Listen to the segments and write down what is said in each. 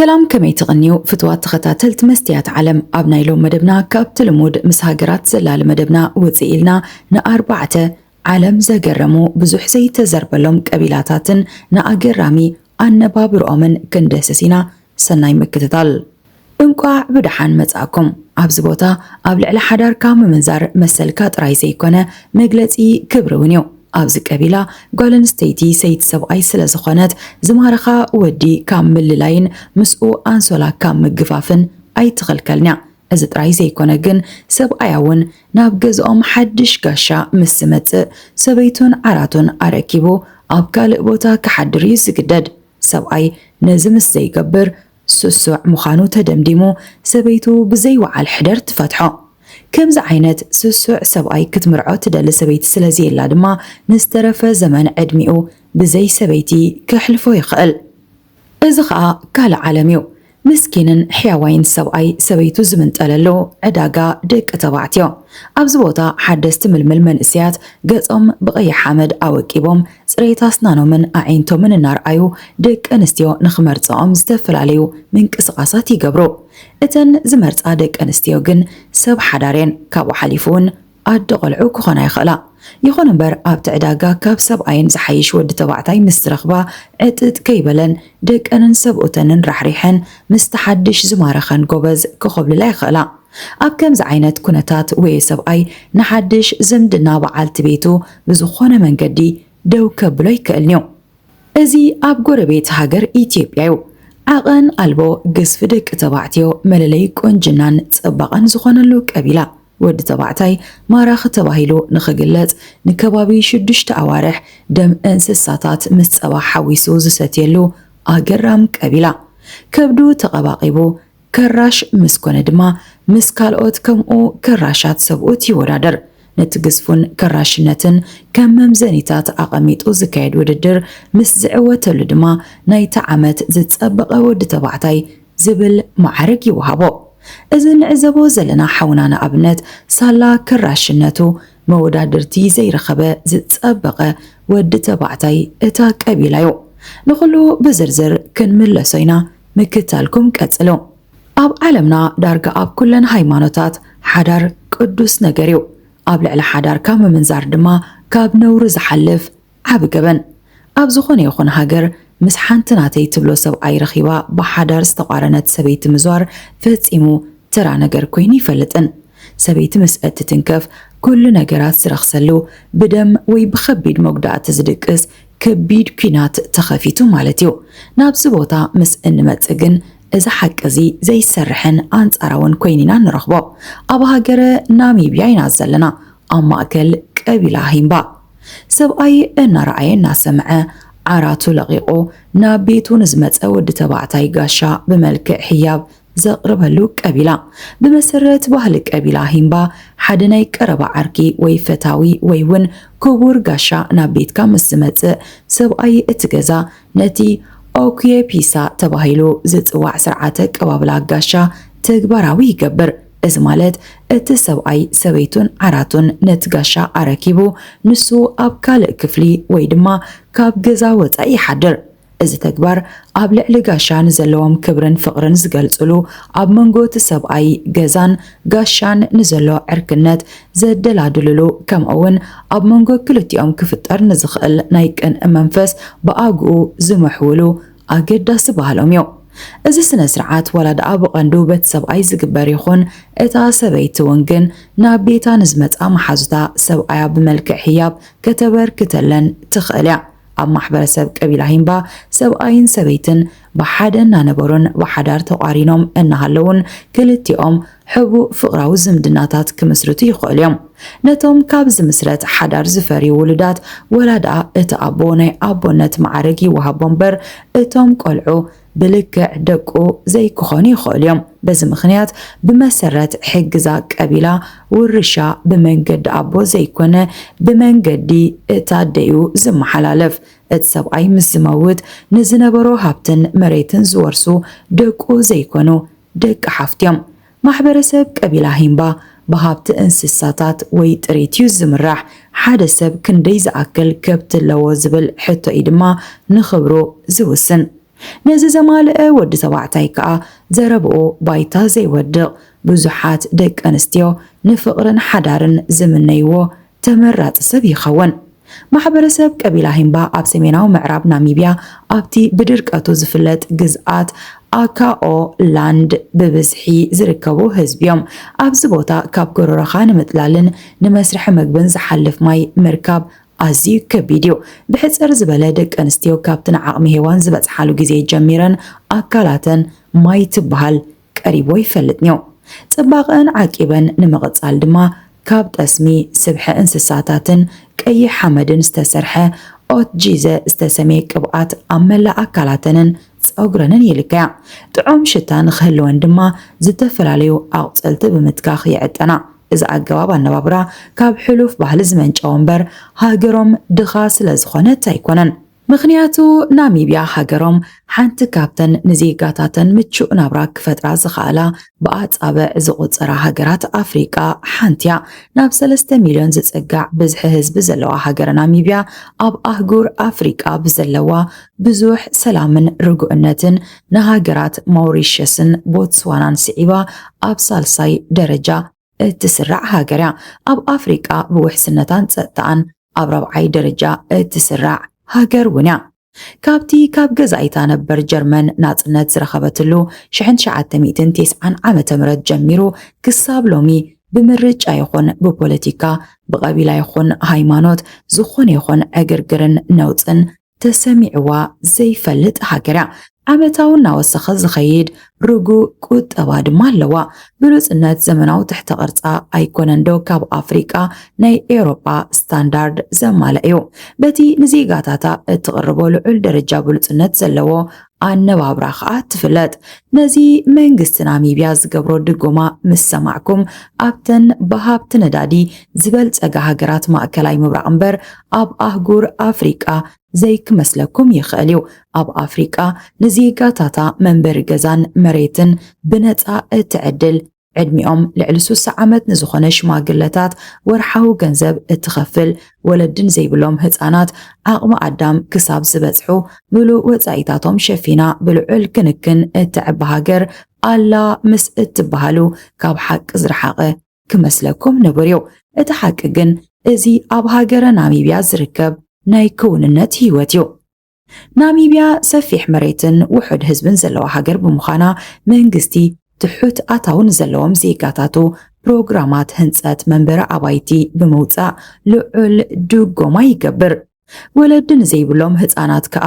ሰላም ከመይ ትቕንዩ ፍትዋት ተኸታተልቲ መስትያት ዓለም ኣብ ናይ ሎም መደብና ካብቲ ልሙድ ምስ ሃገራት ዘላሊ መደብና ወፅእ ኢልና ንኣርባዕተ ዓለም ዘገረሙ ብዙሕ ዘይተዘርበሎም ቀቢላታትን ንኣገራሚ ኣነባብርኦምን ክንድህስስ ኢና፣ ሰናይ ምክትታል። እንቋዕ ብደሓን መጻእኩም። ኣብዚ ቦታ ኣብ ልዕሊ ሓዳርካ ምምንዛር መሰልካ ጥራይ ዘይኮነ መግለጺ ክብሪ ውን እዩ። ኣብዚ ቀቢላ ጓል ኣንስተይቲ ሰይቲ ሰብኣይ ስለ ዝኾነት ዝማረኻ ወዲ ካብ ምልላይን ምስኡ ኣንሶላ ካብ ምግፋፍን ኣይትኽልከልን'ያ። እዚ ጥራይ ዘይኮነ ግን ሰብኣያ ውን ናብ ገዝኦም ሓድሽ ጋሻ ምስ ዝመጽእ፣ ሰበይቱን ዓራቱን ኣረኪቡ ኣብ ካልእ ቦታ ክሓድር እዩ ዝግደድ። ሰብኣይ ነዚ ምስ ዘይገብር፣ ስሱዕ ምዃኑ ተደምዲሙ፣ ሰበይቱ ብዘይ ውዓል ሕደር ትፈትሖ። ከምዚ ዓይነት ስሱዕ ሰብኣይ ክትምርዖ ትደሊ ሰበይቲ ስለ ዘየላ ድማ ንዝተረፈ ዘመን ዕድሚኡ ብዘይ ሰበይቲ ከሕልፎ ይኽእል። እዚ ኸኣ ካልእ ዓለም እዩ። ምስኪንን ሕያዋይን ሰብኣይ ሰበይቱ ዝምንጠለሉ ዕዳጋ ደቂ ተባዕትዮ። ኣብዚ ቦታ ሓደስቲ ምልምል መንእሰያት ገጾም ብቐይሕ ሓመድ ኣወቂቦም ጽሬት ኣስናኖምን ኣዒንቶምን እናርኣዩ ደቂ ኣንስትዮ ንኽመርጻኦም ዝተፈላለዩ ምንቅስቓሳት ይገብሩ። እተን ዝመርጻ ደቂ ኣንስትዮ ግን ሰብ ሓዳር እየን፣ ካብኡ ሓሊፉ'ውን ኣደ ቆልዑ ክኾና ይኽእላ። ይኹን እምበር ኣብቲ ዕዳጋ ካብ ሰብኣየን ዝሓይሽ ወዲ ተባዕታይ ምስ ዝረኽባ ዕጥጥ ከይበለን ደቀንን ሰብኡተንን ራሕሪሐን ምስቲ ሓድሽ ዝማረኸን ጎበዝ ክኾብልላ ይኽእላ። ኣብ ከምዚ ዓይነት ኩነታት ወየ ሰብኣይ ንሓድሽ ዝምድና በዓልቲ ቤቱ ብዝኾነ መንገዲ ደው ከብሎ ኣይክእልን'ዩ። እዚ ኣብ ጎረቤት ሃገር ኢትዮጵያ'ዩ ዓቐን ኣልቦ ግዝፊ ደቂ ተባዕትዮ መለለይ ቁንጅናን ጽባቐን ዝኾነሉ ቀቢላ። ወዲ ተባዕታይ ማራኺ ተባሂሉ ንኽግለጽ ንከባቢ ሽዱሽተ ኣዋርሕ ደም እንስሳታት ምስ ጸባ ሓዊሱ ዝሰትየሉ ኣገራም ቀቢላ። ከብዱ ተቐባቒቡ፣ ከራሽ ምስ ኮነ ድማ ምስ ካልኦት ከምኡ ከራሻት ሰብኡት ይወዳደር። ነቲ ግዝፉን ከራሽነትን ከም መምዘኒታት ኣቐሚጡ ዝካየድ ውድድር ምስ ዝዕወተሉ ድማ ናይቲ ዓመት ዝጸበቐ ወዲ ተባዕታይ ዝብል መዓርግ ይወሃቦ። እዚ ንዕዘቦ ዘለና ሓውና ንኣብነት ሳላ ከራሽነቱ መወዳድርቲ ዘይረኸበ ዝጸበቐ ወዲ ተባዕታይ እታ ቀቢላ'ዩ። ንኹሉ ብዝርዝር ክንምለሶ ኢና ምክታልኩም ቀጽሉ ኣብ ዓለምና ዳርጋ ኣብ ኩለን ሃይማኖታት ሓዳር ቅዱስ ነገር እዩ ኣብ ልዕሊ ሓዳርካ ምምንዛር ድማ ካብ ነውሪ ዝሓልፍ ዓቢ ገበን ኣብ ዝኾነ ይኹን ሃገር ምስ ሓንቲ ናተይ ትብሎ ሰብኣይ ረኺባ ብሓዳር ዝተቛረነት ሰበይቲ ምዟር ፈጺሙ ተራ ነገር ኮይኑ ይፈልጥን ሰበይቲ ምስ እትትንከፍ ኩሉ ነገራት ዝረኽሰሉ ብደም ወይ ብኸቢድ መጉዳእቲ ዝድቅስ ከቢድ ኲናት ተኸፊቱ ማለት እዩ። ናብዚ ቦታ ምስ እንመጽእ ግን እዚ ሓቂ እዚ ዘይሰርሕን ኣንጻራውን ኮይኑ ኢና እንረኽቦ። ኣብ ሃገረ ናሚብያ ኢና ዘለና፣ ኣብ ማእከል ቀቢላ ሂምባ። ሰብኣይ እናረኣየ እናሰምዐ ዓራቱ ለቒቑ ናብ ቤቱ ንዝመጸ ወዲ ተባዕታይ ጋሻ ብመልክዕ ህያብ ዘቕርበሉ ቀቢላ፣ ብመሰረት ባህሊ ቀቢላ ሂምባ ሓደ ናይ ቀረባ ዓርኪ ወይ ፈታዊ ወይ ውን ክቡር ጋሻ ናብ ቤትካ ምስ ዝመጽእ ሰብኣይ እቲ ገዛ ነቲ ኦኩየ ፒሳ ተባሂሉ ዝጽዋዕ ስርዓተ ኣቀባብላ ጋሻ ተግባራዊ ይገብር። እዚ ማለት እቲ ሰብኣይ ሰበይቱን ዓራቱን ነቲ ጋሻ ኣረኪቡ ንሱ ኣብ ካልእ ክፍሊ ወይ ድማ ካብ ገዛ ወጻኢ ይሓድር። እዚ ተግባር ኣብ ልዕሊ ጋሻ ንዘለዎም ክብርን ፍቕርን ዝገልጹሉ፣ ኣብ መንጎ እቲ ሰብኣይ ገዛን ጋሻን ንዘሎ ዕርክነት ዘደላድሉሉ፣ ከምኡ'ውን ኣብ መንጎ ክልቲኦም ክፍጠር ንዝኽእል ናይ ቅንኢ መንፈስ ብኣግኡ ዝምሕውሉ ኣገዳሲ ባህሎም እዩ። እዚ ስነ-ስርዓት ዋላ ደኣ ብቐንዱ በቲ ሰብኣይ ዝግበር ይኹን፣ እታ ሰበይቲ እውን ግን ናብ ቤታ ንዝመጽኣ መሓዙታ ሰብኣያ ብመልክዕ ህያብ ከተበርክተለን ትኽእል እያ። ኣብ ማሕበረሰብ ቀቢላ ሂምባ ሰብኣይን ሰበይትን ብሓደ እናነበሩን ብሓዳር ተቋሪኖም እናሃለውን ክልቲኦም ሕቡእ ፍቕራዊ ዝምድናታት ክምስርቱ ይኽእሉ እዮም። ነቶም ካብ ዝምስረት ሓዳር ዝፈርዩ ውሉዳት ወላ ደኣ እቲ ኣቦ ናይ ኣቦነት መዓርግ ይወሃቦ እምበር እቶም ቆልዑ ብልክዕ ደቁ ዘይክኾኑ ይኸእሉ እዮም። በዚ ምኽንያት ብመሰረት ሕጊ'ዛ ቀቢላ ውርሻ ብመንገዲ ኣቦ ዘይኮነ ብመንገዲ እቲ ኣደ'ዩ ዝመሓላለፍ። እቲ ሰብኣይ ምስ ዝመውት ንዝነበሮ ሃብትን መሬትን ዝወርሱ ደቁ ዘይኮኑ ደቂ ሓፍቱ'ዮም። ማሕበረሰብ ቀቢላ ሂምባ ብሃብቲ እንስሳታት ወይ ጥሪት'ዩ ዝምራሕ። ሓደ ሰብ ክንደይ ዝኣክል ከብቲ ኣለዎ ዝብል ሕቶ'ዩ ድማ ንኽብሩ ዝውስን። ነዚ ዘማልአ ወዲ ተባዕታይ ከኣ ዘረብኡ ባይታ ዘይወድቕ። ብዙሓት ደቀንስትዮ ንፍቕርን ሓዳርን ዝምነይዎ ተመራጺ ሰብ ይኸውን። ማሕበረሰብ ቀቢላ ሂምባ ኣብ ሰሜናዊ ምዕራብ ናሚብያ ኣብቲ ብድርቀቱ ዝፍለጥ ግዝኣት ኣካኦ ላንድ ብብዝሒ ዝርከቡ ህዝቢ እዮም። ኣብዚ ቦታ ካብ ጎረሮኻ ንምጥላልን ንመስርሒ መግብን ዝሓልፍ ማይ ምርካብ ኣዝዩ ከቢድ እዩ። ብሕጽር ዝበለ ደቂ ኣንስትዮ ካብቲ ንዓቕሚ ሄዋን ዝበጽሓሉ ግዜ ጀሚረን ኣካላተን ማይ ትበሃል ቀሪቦ ይፈልጥንዮ። ጽባቐኣን ዓቂበን ንምቕጻል ድማ ካብ ጠስሚ ስብሒ እንስሳታትን ቀይሕ ሓመድን ዝተሰርሐ ኦትጂዘ ዝተሰምየ ቅብኣት ኣብ መላእ ኣካላተንን ጸጉረንን ይልከያ። ጥዑም ሽታ ንኽህልወን ድማ ዝተፈላለዩ ኣቑጽልቲ ብምትካኽ ይዕጠና። እዚ ኣገባብ ኣነባብራ ካብ ሕሉፍ ባህሊ ዝመንጨወ እምበር ሃገሮም ድኻ ስለዝኾነት ኣይኮነን። ምኽንያቱ ናሚብያ ሃገሮም ሓንቲ ካብተን ንዜጋታተን ምቹእ ናብራ ክፈጥራ ዝኸኣላ ብኣጻብዕ ዝቑጸራ ሃገራት ኣፍሪቃ ሓንቲ'ያ። ናብ ሰለስተ ሚልዮን ዝጽጋዕ ብዝሒ ህዝቢ ዘለዋ ሃገረ ናሚብያ ኣብ ኣህጉር ኣፍሪቃ ብዘለዋ ብዙሕ ሰላምን ርጉእነትን ንሃገራት ማውሪሸስን ቦትስዋናን ስዒባ ኣብ ሳልሳይ ደረጃ እትስራዕ ሃገር እያ። ኣብ ኣፍሪቃ ብውሕስነታን ጸጥታኣን ኣብ ራብዓይ ደረጃ እትስራዕ ሃገር እውን እያ። ካብቲ ካብ ገዛኢታ ነበር ጀርመን ናጽነት ዝረኸበትሉ ሽሕን ትሽዓተ ሚእትን ቴስዓን ዓመተ ምረት ጀሚሩ ክሳብ ሎሚ ብምርጫ ይኹን ብፖለቲካ፣ ብቐቢላ ይኹን ሃይማኖት ዝኾነ ይኹን ዕግርግርን ነውጽን ተሰሚዕዋ ዘይፈልጥ ሃገር እያ። ዓመታዊ እናወሰኸ ዝኸይድ ርጉእ ቁጠባ ድማ ኣለዋ። ብሉጽነት ዘመናዊ ትሕተ ቅርጻ ኣይኮነንዶ ካብ ኣፍሪቃ ናይ ኤውሮጳ ስታንዳርድ ዘማልእ እዩ። በቲ ንዜጋታታ እትቕርቦ ልዑል ደረጃ ብሉጽነት ዘለዎ ኣነባብራ ከኣ ትፍለጥ። ነዚ መንግስቲ ናሚብያ ዝገብሮ ድጎማ ምስ ሰማዕኩም ኣብተን ብሃብቲ ነዳዲ ዝበልጸጋ ሃገራት ማእከላይ ምብራቕ እምበር ኣብ ኣህጉር ኣፍሪቃ ዘይክመስለኩም ይኽእል እዩ። ኣብ ኣፍሪቃ ንዜጋታታ መንበሪ ገዛን መሬትን ብነጻ እትዕድል ዕድሚኦም ልዕሊ ሱሳ ዓመት ንዝኾነ ሽማግለታት ወርሓዊ ገንዘብ እትኸፍል፣ ወለድን ዘይብሎም ህጻናት ዓቕሚ ኣዳም ክሳብ ዝበጽሑ ምሉእ ወጻኢታቶም ሸፊና ብልዑል ክንክን እተዕቢ ሃገር ኣላ ምስ እትበሃሉ ካብ ሓቂ ዝረሓቐ ክመስለኩም ንቡር እዩ። እቲ ሓቂ ግን እዚ ኣብ ሃገረ ናሚብያ ዝርከብ ናይ ክውንነት ህይወት እዩ። ናሚብያ ሰፊሕ መሬትን ውሑድ ህዝብን ዘለዋ ሃገር ብምዃና መንግስቲ ትሑት ኣታዊ ንዘለዎም ዜጋታቱ ፕሮግራማት ህንፀት መንበሪ ኣባይቲ ብምውፃእ ልዑል ድጎማ ይገብር። ወለዲ ንዘይብሎም ህፃናት ከዓ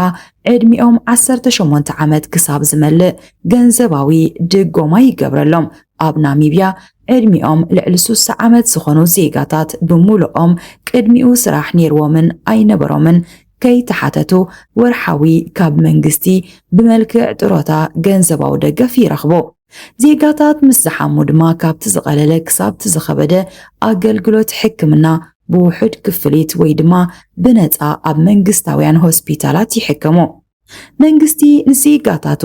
ዕድሚኦም 18 ዓመት ክሳብ ዝመልእ ገንዘባዊ ድጎማ ይገብረሎም። ኣብ ናሚብያ ዕድሚኦም ልዕሊ 60 ዓመት ዝኾኑ ዜጋታት ብምሉኦም ቅድሚኡ ስራሕ ነይርዎምን ኣይነበሮምን ከይተሓተቱ ወርሓዊ ካብ መንግስቲ ብመልክዕ ጥሮታ ገንዘባዊ ደገፍ ይረኽቡ። ዜጋታት ምስ ዝሓሙ ድማ ካብቲ ዝቐለለ ክሳብቲ ዝኸበደ ኣገልግሎት ሕክምና ብውሑድ ክፍሊት ወይ ድማ ብነጻ ኣብ መንግስታውያን ሆስፒታላት ይሕከሙ። መንግስቲ ንዜጋታቱ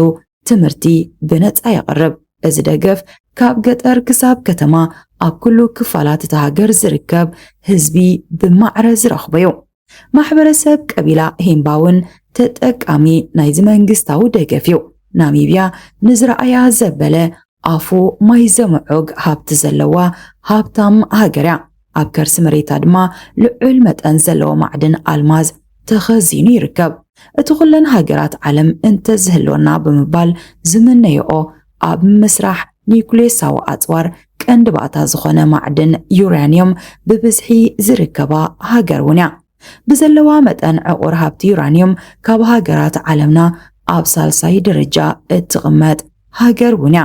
ትምህርቲ ብነጻ የቕርብ። እዚ ደገፍ ካብ ገጠር ክሳብ ከተማ ኣብ ኩሉ ክፋላት እታ ሃገር ዝርከብ ህዝቢ ብማዕረ ዝረኽቦ'ዩ። ማሕበረሰብ ቀቢላ ሂምባ እውን ተጠቃሚ ናይዚ መንግስታዊ ደገፍ እዩ። ናሚብያ ንዝረኣያ ዘበለ ኣፉ ማይ ዘምዑግ ሃብቲ ዘለዋ ሃብታም ሃገር እያ። ኣብ ከርሲ መሬታ ድማ ልዑል መጠን ዘለዎ ማዕድን ኣልማዝ ተኸዚኑ ይርከብ። እቲ ኩለን ሃገራት ዓለም እንተዝህልወና ብምባል ዝምነየኦ ኣብ ምስራሕ ኒዩክልየሳዊ ኣጽዋር ቀንዲ ባእታ ዝኾነ ማዕድን ዩራንየም ብብዝሒ ዝርከባ ሃገር እውን እያ። ብዘለዋ መጠን ዕቑር ሃብቲ ዩራንየም ካብ ሃገራት ዓለምና ኣብ ሳልሳይ ደረጃ እትቕመጥ ሃገር እውን እያ።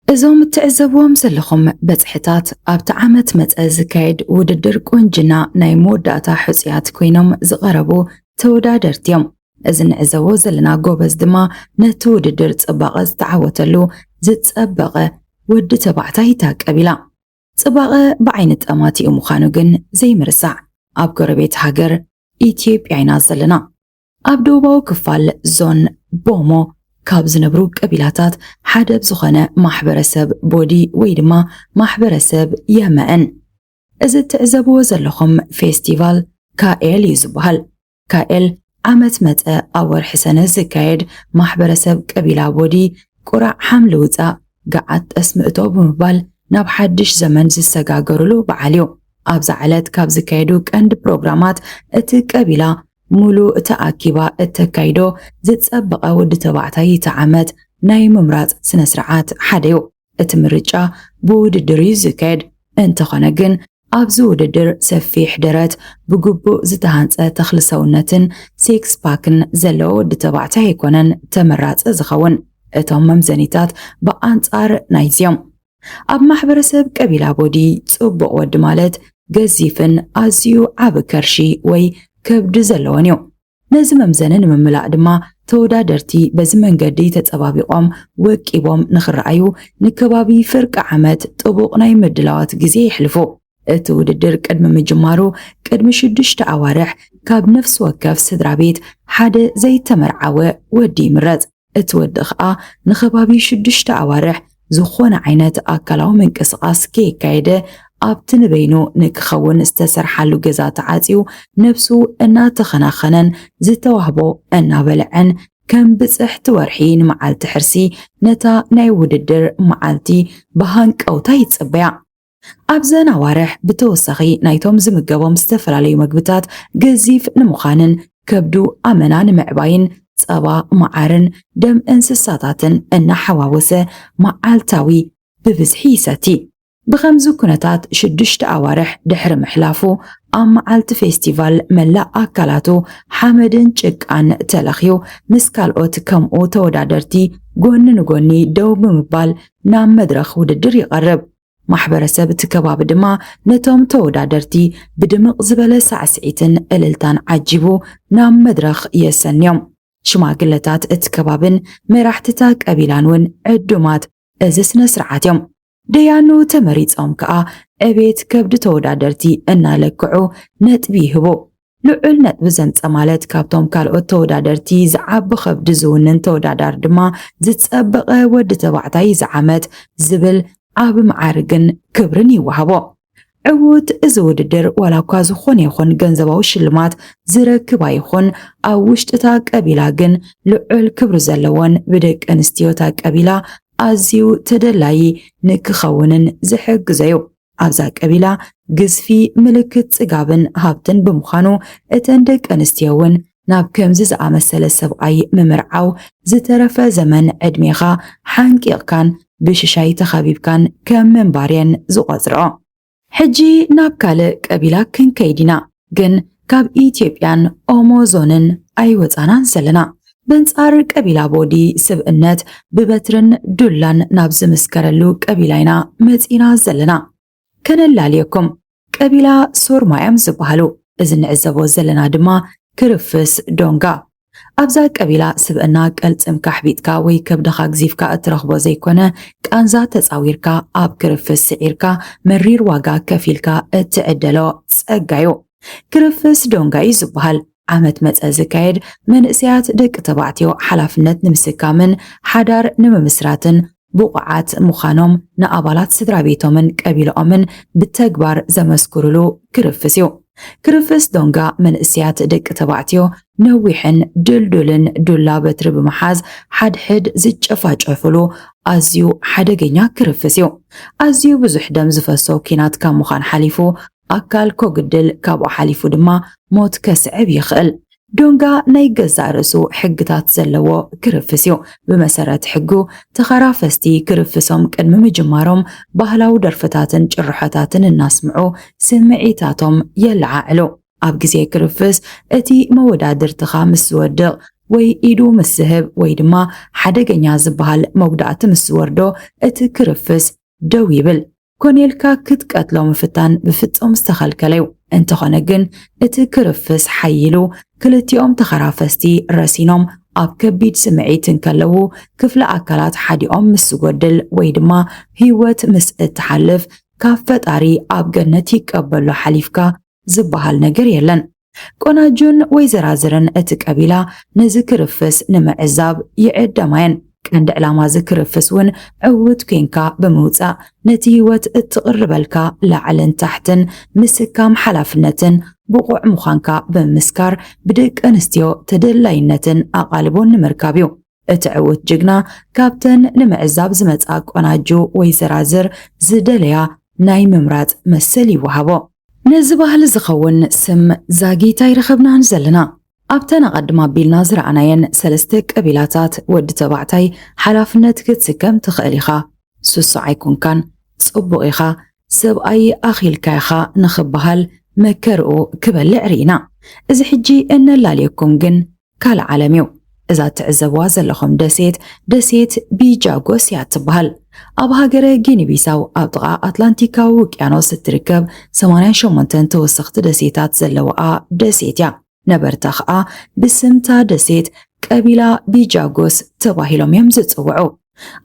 እዞም እትዕዘብዎም ዘለኹም በጽሕታት ኣብቲ ዓመት መጸ ዝካየድ ውድድር ቁንጅና ናይ መወዳእታ ሕጹያት ኮይኖም ዝቐረቡ ተወዳደርቲ እዮም። እዚ ንዕዘቦ ዘለና ጎበዝ ድማ ነቲ ውድድር ጽባቐ ዝተዓወተሉ ዝጸበቐ ወዲ ተባዕታይ እታ ቀቢላ። ጽባቐ ብዓይኒ ጠማቲኡ ምዃኑ ግን ዘይምርሳዕ። ኣብ ጎረቤት ሃገር ኢትዮጵያ ኢና ዘለና። ኣብ ደቡባዊ ክፋል ዞን ቦሞ ካብ ዝነብሩ ቀቢላታት ሓደ ብ ዝኾነ ማሕበረሰብ ቦዲ ወይ ድማ ማሕበረሰብ የመእን እዚ እትዕዘብዎ ዘለኹም ፌስቲቫል ካኤል እዩ ዝበሃል። ካኤል ዓመት መጸ ኣብ ወርሒ ሰነ ዝካየድ ማሕበረሰብ ቀቢላ ቦዲ ቁራዕ ሓምሊ ውጻእ ገዓት ጠስሚ እቶ ብምባል ናብ ሓድሽ ዘመን ዝሰጋገሩሉ በዓል እዩ። ኣብዛ ዕለት ካብ ዝካየዱ ቀንዲ ፕሮግራማት እቲ ቀቢላ ሙሉ ተኣኪባ እተካይዶ ዝጸበቐ ወዲ ተባዕታይ እቲ ዓመት ናይ ምምራጽ ስነስርዓት ሓደ እዩ። እቲ ምርጫ ብውድድር እዩ ዝካየድ። እንተኾነ ግን ኣብዚ ውድድር ሰፊሕ ደረት፣ ብግቡእ ዝተሃንጸ ተኽሊ ሰውነትን ሲክስ ፓክን ዘለዎ ወዲ ተባዕታይ ኣይኮነን ተመራጺ ዝኸውን። እቶም መምዘኒታት ብኣንጻር ናይዚ'ዮም። ኣብ ማሕበረሰብ ቀቢላ ቦዲ፣ ጽቡቕ ወዲ ማለት ገዚፍን ኣዝዩ ዓቢ ከርሺ ወይ ከብዲ ዘለዎን'ዩ። ነዚ መምዘኒ ንምምላእ ድማ ተወዳደርቲ በዚ መንገዲ ተፀባቢቖም ወቂቦም ንክረኣዩ ንከባቢ ፍርቂ ዓመት ጥቡቕ ናይ ምድላዋት ግዜ የሕልፉ። እቲ ውድድር ቅድሚ ምጅማሩ ቅድሚ ሽዱሽተ ኣዋርሕ ካብ ነፍሲ ወከፍ ስድራ ቤት ሓደ ዘይተመርዓወ ወዲ ይምረፅ። እቲ ወዲ ኸኣ ንኸባቢ ሽዱሽተ ኣዋርሕ ዝኾነ ዓይነት ኣካላዊ ምንቅስቓስ ከየካየደ ኣብቲ ንበይኑ ንክኸውን ዝተሰርሓሉ ገዛ ተዓጽዩ ነብሱ እናተኸናኸነን ዝተዋህቦ እናበልዐን ከም ብጽሕቲ ወርሒ ንመዓልቲ ሕርሲ ነታ ናይ ውድድር መዓልቲ ብሃንቀውታ ይጽበያ። ኣብዘን ኣዋርሕ ብተወሳኺ ናይቶም ዝምገቦም ዝተፈላለዩ መግብታት ገዚፍ ንምዃንን ከብዱ ኣመና ንምዕባይን ጸባ፣ መዓርን ደም እንስሳታትን እናሓዋወሰ መዓልታዊ ብብዝሒ ይሰቲ። ብኸምዚ ኩነታት ሽዱሽተ ኣዋርሕ ድሕሪ ምሕላፉ፣ ኣብ መዓልቲ ፌስቲቫል መላእ ኣካላቱ ሓመድን ጭቃን ተለኽዩ ምስ ካልኦት ከምኡ ተወዳደርቲ ጎኒ ንጎኒ ደው ብምባል ናብ መድረኽ ውድድር ይቐርብ። ማሕበረሰብ እቲ ከባቢ ድማ ነቶም ተወዳደርቲ ብድምቕ ዝበለ ሳዕስዒትን ዕልልታን ዓጂቡ ናብ መድረኽ የሰንዮም። ሽማግለታት እቲ ከባብን መራሕቲታ ቀቢላን እውን ዕዱማት እዚ ስነ ስርዓት እዮም። ደያኑ ተመሪጾም ከኣ ዕቤት ከብዲ ተወዳደርቲ እናለክዑ ነጥቢ ይህቡ። ልዑል ነጥቢ ዘምጸ ማለት ካብቶም ካልኦት ተወዳደርቲ ዝዓቢ ከብዲ ዝውንን ተወዳዳሪ ድማ ዝጸበቐ ወዲ ተባዕታይ እዚ ዓመት ዝብል ዓቢ መዓርግን ክብርን ይወሃቦ። ዕዉት እዚ ውድድር ዋላ እኳ ዝኾነ ይኹን ገንዘባዊ ሽልማት ዝረክብ ኣይኹን፣ ኣብ ውሽጢ እታ ቀቢላ ግን ልዑል ክብሪ ዘለዎን ብደቂ ኣንስትዮ እታ ቀቢላ ኣዝዩ ተደላዪ ንክኸውንን ዝሕግዞ'ዩ። ኣብዛ ቀቢላ ግዝፊ ምልክት ጽጋብን ሃብትን ብምዃኑ እተን ደቂ ኣንስትዮ እውን ናብ ከምዚ ዝኣመሰለ ሰብኣይ ምምርዓው ዝተረፈ ዘመን ዕድሜኻ ሓንቂቕካን ብሽሻይ ተኸቢብካን ከም ምንባር እየን ዝቖጽርኦ። ሕጂ ናብ ካልእ ቀቢላ ክንከይድ ኢና። ግን ካብ ኢትዮጵያን ኦሞ ዞንን ኣይወፃናን ዘለና። በንፃር ቀቢላ ቦዲ ስብእነት ብበትርን ዱላን ናብ ዝምስከረሉ ቀቢላ ኢና መፂና ዘለና። ከነላልየኩም ቀቢላ ሶርማ እዮም ዝበሃሉ። እዚ ንዕዘቦ ዘለና ድማ ክርፍስ ዶንጋ ኣብዛ ቀቢላ ስብእና ቀልጽምካ ኣሕቢጥካ ወይ ከብድኻ ግዚፍካ እትረኽቦ ዘይኮነ ቃንዛ ተጻዊርካ ኣብ ክርፍስ ስዒርካ መሪር ዋጋ ከፊልካ እትዕደሎ ጸጋዩ። ክርፍስ ዶንጋዩ ዝብሃል ዓመት መጸ ዝካየድ መንእሰያት ደቂ ተባዕትዮ ሓላፍነት ንምስካምን ሓዳር ንምምስራትን ብቑዓት ምዃኖም ንኣባላት ስድራ ቤቶምን ቀቢላኦምን ብተግባር ዘመስክሩሉ ክርፍስ እዩ። ክርፍስ ዶንጋ መንእሰያት ደቂ ተባዕትዮ ነዊሕን ድልዱልን ዱላ በትሪ ብምሓዝ ሓድሕድ ዝጨፋጨፉሉ ኣዝዩ ሓደገኛ ክርፍስ እዩ። ኣዝዩ ብዙሕ ደም ዝፈሶ ኲናት ካብ ምዃን ሓሊፉ ኣካል ኮግድል ካብኡ ሓሊፉ ድማ ሞት ከስዕብ ይኽእል። ዶንጋ ናይ ገዛእ ርእሱ ሕግታት ዘለዎ ክርፍስ እዩ። ብመሰረት ሕጉ ተኸራፈስቲ ክርፍሶም ቅድሚ ምጅማሮም ባህላዊ ደርፍታትን ጭርሖታትን እናስምዑ ስምዒታቶም የለዓዕሉ። ኣብ ግዜ ክርፍስ እቲ መወዳድርትኻ ምስ ዝወድቕ ወይ ኢዱ ምስ ዝህብ ወይ ድማ ሓደገኛ ዝበሃል መጉዳእቲ ምስ ዝወርዶ እቲ ክርፍስ ደው ይብል። ኮነ ኢልካ ክትቀትሎ ምፍታን ብፍጹም ዝተኸልከለ እዩ። እንተኾነ ግን እቲ ክርፍስ ሓይሉ ክልቲኦም ተኸራፈስቲ ረሲኖም ኣብ ከቢድ ስምዒት እንከለዉ ክፍለ ኣካላት ሓዲኦም ምስ ዝጎድል ወይ ድማ ህይወት ምስ እትሓልፍ ካብ ፈጣሪ ኣብ ገነት ይቀበሎ ሓሊፍካ ዝበሃል ነገር የለን። ቆናጁን ወይዘራዝርን እቲ ቀቢላ ነዚ ክርፍስ ንምዕዛብ ይዕደማ እየን። ቀንዲ ዕላማ እዚ ክርፍስ እውን ዕውት ኴንካ ብምውፃእ ነቲ ህይወት እትቕርበልካ ላዕልን ታሕትን ምስካም ሓላፍነትን ብቑዕ ምዃንካ ብምምስካር ብደቂ ኣንስትዮ ተደላይነትን ኣቓልቦን ንምርካብ እዩ። እቲ ዕውት ጅግና ካብተን ንምዕዛብ ዝመጽኣ ቆናጁ ወይ ዘራዝር ዝደለያ ናይ ምምራጽ መሰል ይወሃቦ። ነዚ ባህሊ ዝኸውን ስም ዛጊት ኣይረኸብናን ዘለና። ኣብተን ኣቐድም ኣቢልና ዝረኣናየን ሰለስተ ቀቢላታት ወዲ ተባዕታይ ሓላፍነት ክትስከም ትኽእል ኢኻ፣ ሱሱዕ ኣይኮንካን፣ ጽቡቕ ኢኻ፣ ሰብኣይ ኣኺልካ ኢኻ ንኽበሃል መከርኡ ክበልዕ ርኢና። እዚ ሕጂ እነላልየኩም ግን ካልእ ዓለም እዩ። እዛ እትዕዘብዋ ዘለኹም ደሴት ደሴት ቢጃጎስ እያ እትበሃል። ኣብ ሃገረ ጊኒቢሳው ኣብ ጥቓ ኣትላንቲካዊ ውቅያኖስ እትርከብ 88 ተወሰኽቲ ደሴታት ዘለዋኣ ደሴት እያ። ነበርታ ኸኣ ብስምታ ደሴት ቀቢላ ቢጃጎስ ተባሂሎም እዮም ዝጽውዑ።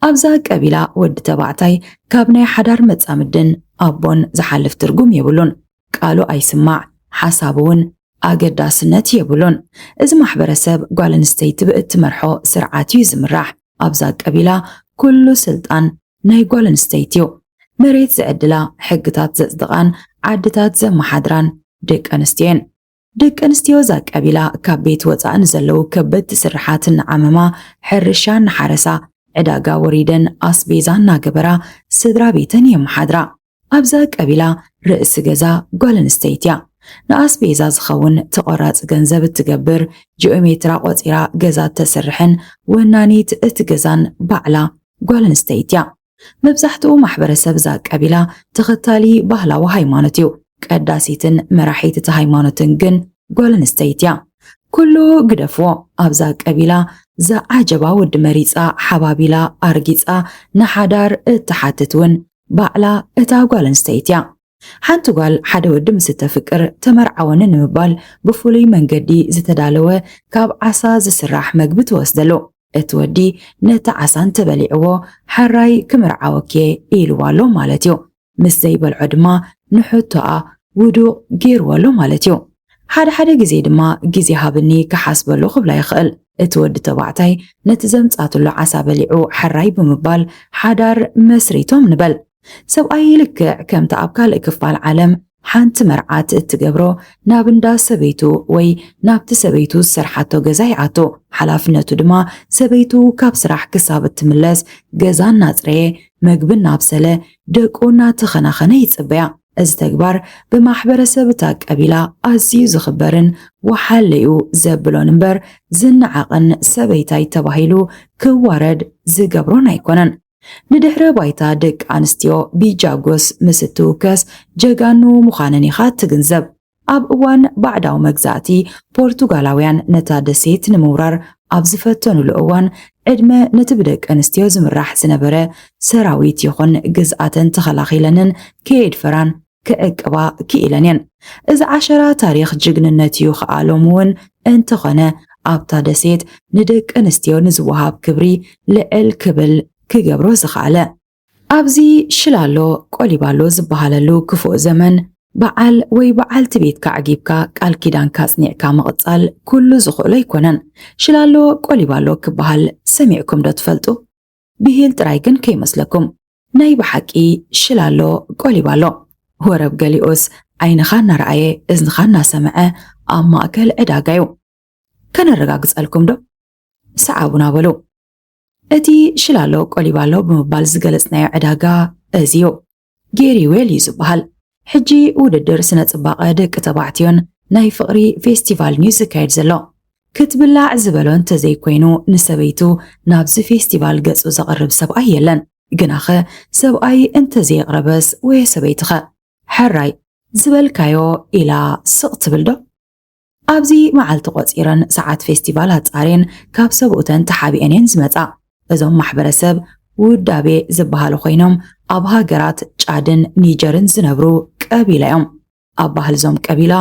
ኣብዛ ቀቢላ ወዲ ተባዕታይ ካብ ናይ ሓዳር መጻምድን ኣቦን ዝሓልፍ ትርጉም የብሉን። ቃሉ ኣይስማዕ ሓሳቡ ውን ኣገዳስነት የብሉን። እዚ ማሕበረሰብ ጓል ኣንስተይቲ ብእትመርሖ ስርዓት እዩ ዝምራሕ። ኣብዛ ቀቢላ ኩሉ ስልጣን ናይ ጓል ኣንስተይቲ እዩ። መሬት ዝዕድላ፣ ሕግታት ዘፅድቓን ዓድታት ዘመሓድራን ደቂ ኣንስትዮ እየን። ደቂ ኣንስትዮ እዛ ቀቢላ ካብ ቤት ወፃእ ንዘለዉ ከበድቲ ስርሓት እናዓመማ፣ ሕርሻ እናሓረሳ፣ ዕዳጋ ወሪደን ኣስቤዛ እናገበራ ስድራ ቤተን የመሓድራ። ኣብዛ ቀቢላ ርእሲ ገዛ ጓል ኣንስተይቲ እያ። ንኣስቤዛ ዝኸውን ተቖራፂ ገንዘብ እትገብር፣ ጂኦሜትራ ቆፂራ ገዛ እተስርሕን ወናኒት እቲ ገዛን ባዕላ ጓል ኣንስተይቲ እያ። መብዛሕትኡ ማሕበረሰብ እዛ ቀቢላ ተኸታሊ ባህላዊ ሃይማኖት እዩ። ቀዳሲትን መራሒት እቲ ሃይማኖትን ግን ጓል ኣንስተይት እያ። ኩሉ ግደፍዎ ኣብዛ ቀቢላ ዝዓጀባ ወዲ መሪጻ ሓባቢላ ኣርጊጻ ንሓዳር እትሓትት እውን ባዕላ እታ ጓል ኣንስተይት እያ። ሓንቲ ጓል ሓደ ወዲ ምስ እተፍቅር ተመርዓወኒ ንምባል ብፍሉይ መንገዲ ዝተዳለወ ካብ ዓሳ ዝስራሕ መግቢ ትወስደሉ። እቲ ወዲ ነቲ ዓሳ እንተበሊዕዎ ሐራይ ክምርዓወኪ'የ ኢልዋ ኣሎ ማለት እዩ። ምስ ዘይበልዖ ድማ ንሕቶኣ ውዱቕ ገይርዎ ኣሎ ማለት እዩ። ሓደ ሓደ ግዜ ድማ ግዜ ሃብኒ ክሓስበሉ ክብላ ይኽእል። እቲ ወዲ ተባዕታይ ነቲ ዘምጻትሉ ዓሳ በሊዑ ሐራይ ብምባል ሓዳር መስሪቶም ንበል። ሰብኣየይ ልክዕ ከምቲ ኣብ ካልእ ክፋል ዓለም ሓንቲ መርዓት እትገብሮ ናብ እንዳ ሰበይቱ ወይ ናብቲ ሰበይቱ ዝሰርሓቶ ገዛ ይኣቱ። ሓላፍነቱ ድማ ሰበይቱ ካብ ስራሕ ክሳብ እትምለስ ገዛ እናጽረየ፣ መግቢ እናብሰለ፣ ደቁ እናተኸናኸነ ይጽበያ። እዚ ተግባር ብማሕበረሰብ እታ ቀቢላ ኣዝዩ ዝኽበርን ወሓለ'ዩ ዘብሎን እምበር ዝነዓቕን ሰበይታይ ተባሂሉ ክዋረድ ዝገብሮን ኣይኮነን። ንድሕረ ባይታ ደቂ ኣንስትዮ ብጃጎስ ምስ እትውከስ ጀጋኑ ምዃነን ኢኻ እትግንዘብ። ኣብ እዋን ባዕዳዊ መግዛእቲ፣ ፖርቱጋላውያን ነታ ደሴት ንምውራር ኣብ ዝፈተኑሉ እዋን፣ ዕድመ ነቲ ብደቂ ኣንስትዮ ዝምራሕ ዝነበረ ሰራዊት ይኹን ግዝኣተን ተኸላኺለንን ከየድፈራን፣ ክዕቅባ ክኢለን እየን። እዚ ዓሸራ ታሪኽ ጅግንነት እዩ ኸኣ ሎሚ እውን እንተኾነ ኣብታ ደሴት ንደቂ ኣንስትዮ ንዝወሃብ ክብሪ ልዕል ክብል ክገብሮ ዝኸኣለ። ኣብዚ ሽላሎ ቆሊባሎ ዝበሃለሉ ክፉእ ዘመን በዓል ወይ በዓልቲ ቤትካ ኣዕጊብካ ቃል ኪዳንካ ኣጽኒዕካ ምቕጻል ኩሉ ዝኽእሎ ኣይኮነን። ሽላሎ ቆሊባሎ ክበሃል ሰሚዕኩም ዶ ትፈልጡ? ብሂል ጥራይ ግን ከይመስለኩም ናይ ብሓቂ ሽላሎ ቆሊባ ኣሎ ወረብ ገሊኡስ ዓይንኻ እናረኣየ እዝንኻ እናሰምዐ ኣብ ማእከል ዕዳጋ እዩ ከነረጋግጸልኩም ዶ ሰዓቡና በሉ እቲ ሽላሎ ቆሊባ ኣሎ ብምባል ዝገለጽናዮ ዕዳጋ እዚ እዩ ጌሪ ዌል እዩ ዝበሃል። ሕጂ ውድድር ስነ ጽባቐ ደቂ ተባዕትዮን ናይ ፍቕሪ ፌስቲቫልን እዩ ዝካየድ ዘሎ። ክትብላዕ ዝበሎ እንተዘይኮይኑ ንሰበይቱ ናብዚ ፌስቲቫል ገጹ ዘቕርብ ሰብኣይ የለን። ግናኸ ሰብኣይ እንተዘየቕረበስ ወየ ሰበይትኸ? ሕራይ ዝበልካዮ ኢላ ስቕ ትብል ዶ? ኣብዚ መዓልቲ ቆጺረን ሰዓት ፌስቲቫል ኣጻርየን ካብ ሰብኡተን ተሓቢኤን እየን ዝመጻ። እዞም ማሕበረሰብ ውዳቤ ዝበሃሉ ኮይኖም ኣብ ሃገራት ጫድን ኒጀርን ዝነብሩ ቀቢላ እዮም። ኣብ ባህሊ እዞም ቀቢላ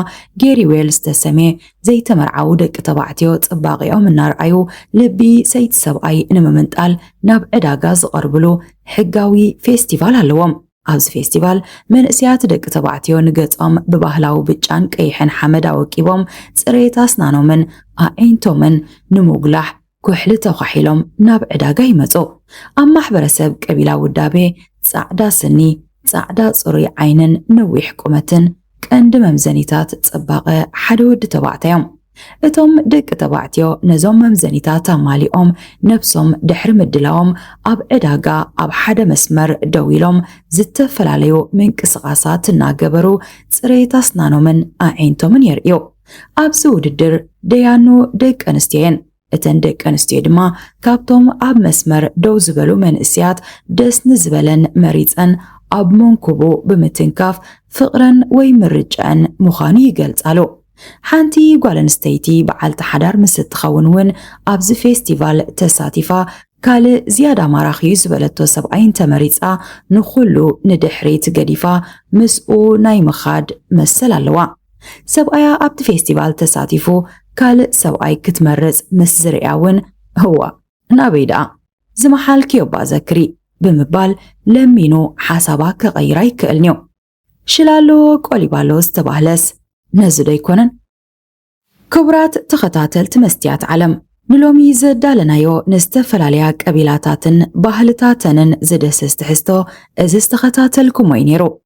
ጌሪዌል ዝተሰምየ ዘይተመርዓዉ ደቂ ተባዕትዮ ጽባቂኦም እናርኣዩ ልቢ ሰይቲ ሰብኣይ ንምምንጣል ናብ ዕዳጋ ዝቐርብሉ ሕጋዊ ፌስቲቫል ኣለዎም። ኣብዚ ፌስቲቫል መንእሰያት ደቂ ተባዕትዮ ንገጾም ብባህላዊ ብጫን ቀይሕን ሓመድ ኣወቂቦም ጽሬት ኣስናኖምን ኣዒንቶምን ንምጉላሕ ኩሕሊ ተዃሒሎም ናብ ዕዳጋ ይመጹ። ኣብ ማሕበረሰብ ቀቢላ ውዳቤ ጻዕዳ ስኒ፣ ጻዕዳ ጽሩይ ዓይንን ነዊሕ ቁመትን፣ ቀንዲ መምዘኒታት ጽባቐ ሓደ ወዲ ተባዕታዮም። እቶም ደቂ ተባዕትዮ ነዞም መምዘኒታት ኣማሊኦም ነብሶም ድሕሪ ምድላዎም ኣብ ዕዳጋ ኣብ ሓደ መስመር ደው ኢሎም ዝተፈላለዩ ምንቅስቓሳት እናገበሩ ጽሬት ኣስናኖምን ኣዒንቶምን የርእዩ። ኣብዚ ውድድር ደያኑ ደቂ ኣንስትዮየን። እተን ደቂ ኣንስትዮ ድማ ካብቶም ኣብ መስመር ደው ዝበሉ መንእስያት ደስ ንዝበለን መሪጸን ኣብ መንኩቡ ብምትንካፍ ፍቕረን ወይ ምርጨኣን ምዃኑ ይገልጻሉ። ሓንቲ ጓል ኣንስተይቲ በዓልቲ ሓዳር ምስ እትኸውን እውን ኣብዚ ፌስቲቫል ተሳቲፋ ካልእ ዝያዳ ማራኺዩ ዝበለቶ ሰብኣይ እንተመሪጻ ንኹሉ ንድሕሪት ገዲፋ ምስኡ ናይ ምኻድ መሰል ኣለዋ። ሰብኣያ ኣብቲ ፌስቲቫል ተሳቲፉ ካልእ ሰብኣይ ክትመርጽ ምስ ዝርእያ እውን እዋእ ናበይ ደኣ ዝመሓልክዮ'ባ ዘክሪ ብምባል ለሚኑ ሓሳባ ክቐይር ኣይክእልን'ዩ። ሽላ ኣለዎ ቆሊባ ኣለዎ ዝተባህለስ ነዚ'ዶ ኣይኮነን? ክቡራት ተኸታተልቲ መስትያት ዓለም ንሎሚ ዘዳለናዮ ንዝተፈላለያ ቀቢላታትን ባህልታተንን ዝድህስስ ትሕዝቶ እዚ ዝተኸታተልኩሞ'ዩ ነይሩ።